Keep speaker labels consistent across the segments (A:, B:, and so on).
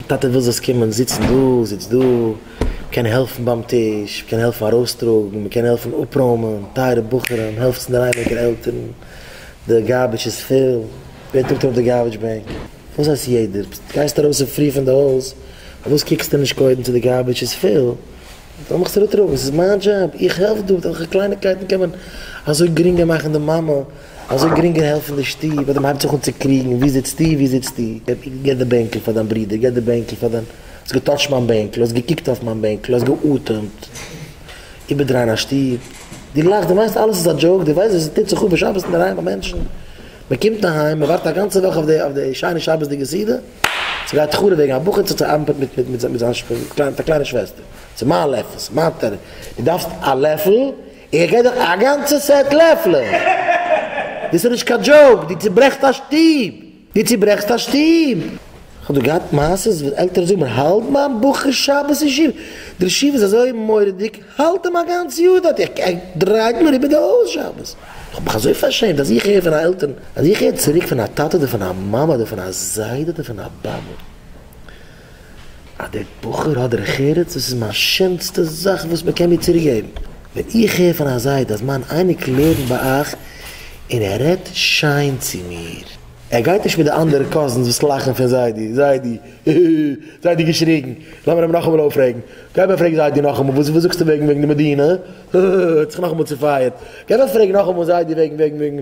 A: טאטע וויל זאלסט קומען זיצן דא, זיץ דא, מ'קען העלפן ביים טיש, מ'קען העלפן ארויסטראגן, מ'קען העלפן אפרוימען, טייערע בחורים, העלפטס אין די ריינעדיגער עלטערן, די גארביטש איז פיל, ווער טראגט ארויף די גארביטש בעג? וואס הייסט יעדער? גייסט ארויס אין פרי פון די הויז, פארוואס קוקסטו נישט קודם צו די גארביטש איז פיל, זאל מיך צוריק טראגן, ס'איז מיין דזשאב, איך העלף דא, מיט וועלכע קלייניקייטן קען מען אזוי גרינגער מאכן די מאמע אזוי גרינגער העלפן די שטוב ווייל די מ'הייבט זיך אן צו קריגן ווי זיצטו ווי זיצטו, געב די בענקל פאר דיין ברודער, געב די בענקל פאר דיין, האסט געטאטשט מיין בענקל, האסט געקוקט אויף מיין בענקל, האסט געאטעמט, איבערדרייען א שטוב, דו לאכסט, דו מיינסט אלעס איז א דזשאוק, דו ווייסט וואס עס טוט זיך אפ בשבת אינדערהיים ביי מענטשן, מ'קומט אהיים, מ'ווארט א גאנצע וואך אויף די שיינע שבת'דיגע סעודה, ס'גייט חרוב וועגן א בחור צו צו ארבעט מיט מיט זיין מיט א קליינע שוועסטער, ס'איז מיין לעפל, ס'איז מיין טעלער, דו דארפסט א לעפל? איך גיי דאך א גאנצע סעט לעפלען! דאס איז נישט קיין דזשאוק! דו צוברעכסט א שטוב! דו צוברעכסט א שטוב! כ'האב דא געהאט מעשה'ס וואס עלטערן זאגן מיר האלט מיין בחור שבת אין שול, דער ישיבה איז אזוי מורא'דיג, האלט אים א גאנץ יאר דארט, איך גיי דרייט מיר איבער די הויז שבת! איך האב מיך אזוי פארשעמט אז איך הער פון א עלטערן, אז איך הער צוריק פון א טאטע אדער פון א מאמע אדער פון א זיידע אדער פון א באבע. אז דער בחור האט דרך ארץ, דאס איז מיין שענסטע זאך וואס מען קען מיר צוריק געבן, ווען איך הער פון א זיידע אז מיין אייניקל לערנט ביי אייך און ער רעדט שיין צו מיר, ער גייט נישט מיט די אנדערע קאזינס וואס לאכן פון זיידי, זיידי, היהי, זיידי געשריגן, לאמיר אים נאכאמאל אויפרעגן, גיי אבער פרעג זיידי נאכאמאל, וואס וואס זאגסטו וועגן וועגן די מדינה, היהי, ער האט זיך נאכאמאל צופייערט, גיי אבער פרעג נאכאמאל זיידי וועגן וועגן וועגן.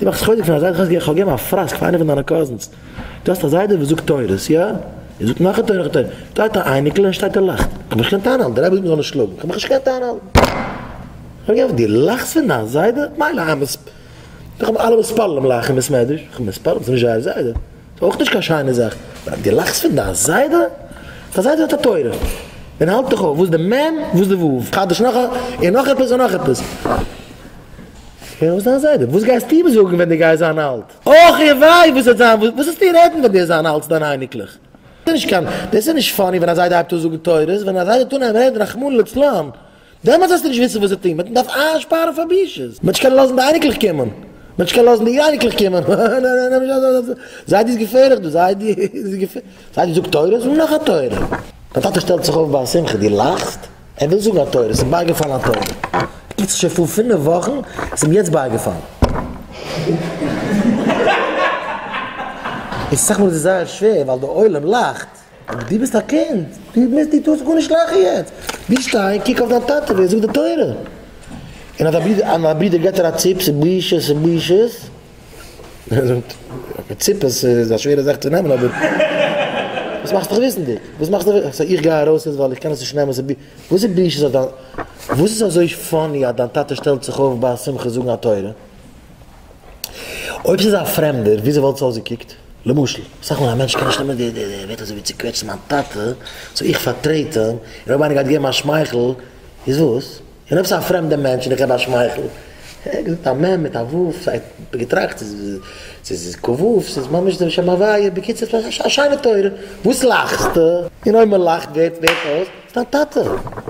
A: דו מאכסט חוזק פון א זיידע, איך האב געגעבן א פראסק פאר איינע פון דיינע קאזינס, דו האסט א זיידע וואס זאגט תורות, יא? ער זאגט נאך א תורה נאך א תורה, דא האט ער א אייניקל און שטייט און לאכט, איך האב מיך נישט געקענט איינהאלטן, די רבי זאגט מיר זאל נישט שלאגן, איך האב מיך נישט געקענט איינהאלטן, איך האב געפרעגט, דו לאכסט פון דיין זיידע? מילא, איך האב אלע מספרים אום לאכן אין בית מדרש, איך האב מספרים, ס'איז נישט זייער זיידע. אויך נישט קיין שיינע זאך. אז דו לאכסט פון דיין זיידע, דיין זיידע האט א תורה, און האלט דיך אויף וואס די מ' וואס די ו', חדש נאך א, און נאך עפעס און נאך עפעס. הער אויס דיין זיידע, וואס גייסטו אים זאגן ווען דו גייסט זיין אלט? אח און וויי וואס וועט זיין, וואס וועסטו רעדן ווען דו וועסט זיין אלט צו דיינע אייניקלעך? דאס איז נישט קיין, דאס איז נישט פאני ווען א זיידע הייבט אן זאגן תורות, ווען א זיידע טאר נעמען רעדן רחמנא לצלן. דעמאלטס וועסטו נישט וויסן וואס צו טון, מ'וועט דארף איינשפארן פאר בושות, מ'וועט נישט קענען לאזן די אייניקלעך קומען, מ'וועט נישט קענען לאזן די אייניקלעך קומען, זיידי איז געפערליך דא, זיידי איז געפערליך, זיידי זאגט תורות און נאך א תורה, דיין טאטע שטעלט זיך אויף ביי א שמחה, דו לאכסט? ער וויל זאגן א תורה, ס'איז בייגעפאלן א תורה, איצט שוין פאר פינף וואכן, ס'איז אים יעצט בייגעפאלן. און סאך מאל איז עס זייער שווער ווייל דער עולם לאכט. אבער דו ביסט א קינד, דו מוזט, דו טארסט גארנישט לאכן יעצט, דו שטיי קוק אויף דיין טאטע ווי ער זאגט די תורה, און אז דיין ברודער געט דיר א ציפ, ס'איז בושות און בושות, ער זאגט, אקעי ציפעס איז א שווערע זאך צו נעמען אבער, וואס מאכסטו זיך וויסנדיג, וואס מאכסטו זיך וויסנדיג, איך גיי ארויס יעצט ווייל איך קען עס נישט נעמען, וואס איז בושות אויף דיין, וואס איז אזוי פאני אז דיין טאטע שטעלט זיך אויף ביי א שמחה זאגן א תורה? אויב ס'איז א פרעמדער, וויאזוי וואלט עס אויסגעקוקט? למשל, אסאך מאל א מענטש קען נישט נעמען די די ווערטער אזוי ווי צוקוועטשן מיין טאטע, סאו איך פארטרעט אים, און אויב איינער גייט געבן א שמייכל, איז וואס? און אויב ס'איז א פרעמדע מענטש און איך געב א שמייכל? ער געזאגט א מ' מיט א ו', כ'האב געטראכט צו ס'איז כ ו, ס'איז ממש די שם הוויה, בקיצור ס'איז א שיינע תורה, וואס לאכסטו? און אויב מ'לאכט ווערט אויס ס'איז דיין טאטע.